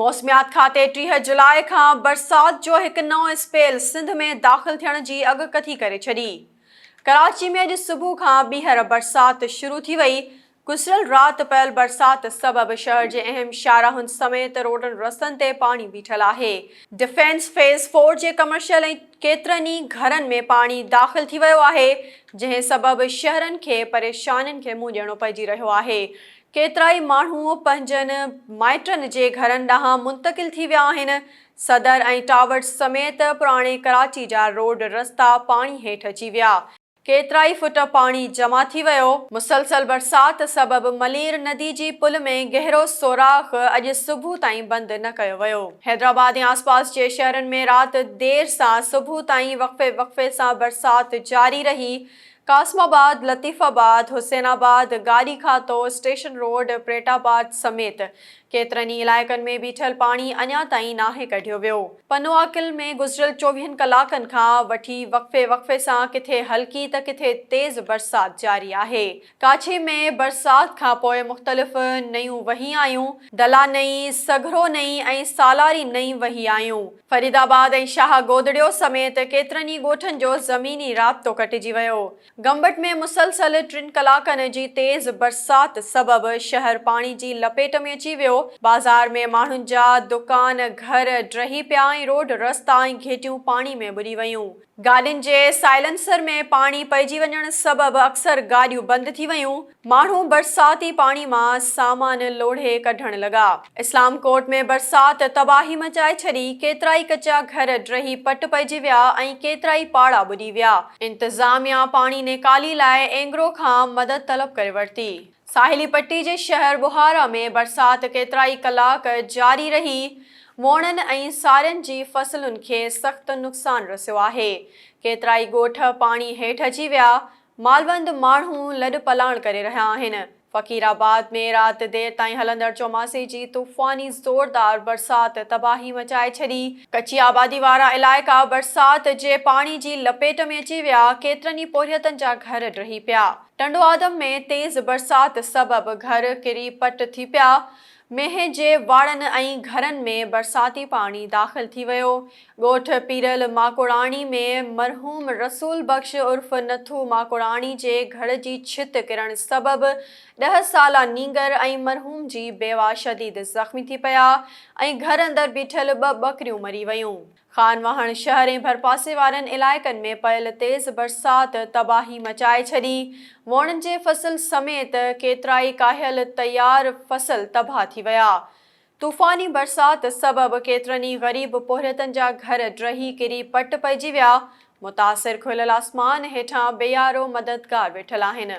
موسميات کاتي ٽيهه جولاء کان برسات جو هڪ نئون اسپيل سنڌ ۾ داخل ٿيڻ جي اڳڪٿي ڪري ڇڏي. ڪراچي ۾ اڄ صبح کان ٻيهر برسات شروع ٿي وئي، گذريل رات پيل برسات سبب شهر جي اهم شاهراهن سميت روڊن رستن تي پاڻي بيٺل آهي، ڊفينس فيز فور جي ڪمرشل ۽ ڪيترن ئي گهرن ۾ پاڻي داخل ٿي ويو آهي، جنهن سبب شهرين کي پريشانين کي منهن ڏيڻو پئجي رهيو آهي، ڪيترائي ماڻهو پنهنجن مائٽن جي گهرن ڏانهن منتقل ٿي ويا آهن، صدر ۽ ٽاورز سميت پراڻي ڪراچي جا روڊ رستا پاڻي هيٺ اچي ويا، ڪيترائي فٽ پاڻي جمع ٿي ويو، مسلسل برسات سبب ملير ندي جي پل ۾ گهرو سوراخ اڄ صبح تائين بند نه ڪيو ويو. حيدرآباد ۽ آسپاس جي شهرن ۾ رات دير سان صبح تائين وقفي وقفي سان برسات جاري رهي، قاسم آباد، لطيف آباد، حسين آباد، گاڏي کاتو، اسٽيشن روڊ، پريٽ آباد سميت ڪيترن ئي علائقن ۾ بيٺل پاڻي اڃا تائين ناهي ڪڍيو ويو. پنوعاقل ۾ گذريل چوويهن ڪلاڪن کان وٺي وقفي وقفي سان ڪٿي هلڪي ته ڪٿي تيز برسات جاري آهي. ڪاڇي ۾ برسات کان پوء مختلف نئيون وهي آيون. دلا نئي، سگهرو نئي ۽ سالاري نئي وهي آيون. فريد آباد ۽ شاهه گودڙيو سميت ڪيترن ئي ڳوٺن جو زميني رابطو ڪٽجي ويو. گمبٽ ۾ مسلسل ٽن ڪلاڪن جي تيز برسات سبب شهر پاڻي جي لپيٽ ۾ اچي ويو. بازار ۾ ماڻهن جا دڪان، گهر ڊهي پيا ۽ روڊ رستا ۽ گهيٽيون پاڻي ۾ ٻڏي ويون. گاڏين جي سائلنسر ۾ پاڻي پئجي وڃڻ سبب اڪثر گاڏيون بند ٿي ويون، ماڻهو برساتي پاڻي مان سامان لوڙهي ڪڍڻ لڳا، اسلام ڪوٽ ۾ برسات تباهي مچائي ڇڏي، ڪيترائي ڪچا گهر ڊهي پٽ پئجي ويا ۽ ڪيترائي پاڙا ٻڏي ويا، انتظاميا پاڻي نيڪالي لاء اينگرو کان مدد طلب ڪري ورتي. ساحلي پٽي جي شهر بخارا ۾ برسات ڪيترائي ڪلاڪ جاري رهي، موڻن ۽ سارين جي فصلن کي سخت نقصان رسيو آهي، ڪيترائي ڳوٺ پاڻي هيٺ اچي ويا، مالوند ماڻهو لڏپلاڻ ڪري رهيا آهن، فقير آباد ۾ رات دير تائين هلندڙ چوماسي جي طوفاني زوردار برسات تباهي مچائي ڇڏي، ڪچي آبادي وارا علائقا برسات جي پاڻي جي لپيٽ ۾ اچي ويا، ڪيترن ئي پورهيتن جا گهر ڊهي پيا. ٽنڊوآدم ۾ تيز برسات سبب گهر ڪري پٽ ٿي پيا، مينهن جي واڙن ۽ گهرن ۾ برساتي پاڻي داخل ٿي ويو، ڳوٺ پيرل ماڪوڙاڻي ۾ مرحوم رسول بخش عرف نٿو ماڪوڙاڻي جي گهر جي ڇت ڪرڻ سبب ڏهه سالا نينگر ۽ مرحوم جي بيواه شديد زخمي ٿي پيا ۽ گهر اندر بيٺل ٻه ٻڪريون مري ويون. خان واهڻ شهر ۽ ڀرپاسي وارن علائقن ۾ پيل تيز برسات تباهي مچائي ڇڏي، ووڻن جي فصل سميت ڪيترائي ڪاهيل تيار فصل تباهه ٿي ويا. طوفاني برسات سبب ڪيترن ئي غريب پورهيتن جا گهر ڊهي ڪري پٽ پئجي ويا، متاثر کليل آسمان هيٺان بيارو مددگار ويٺل آهن.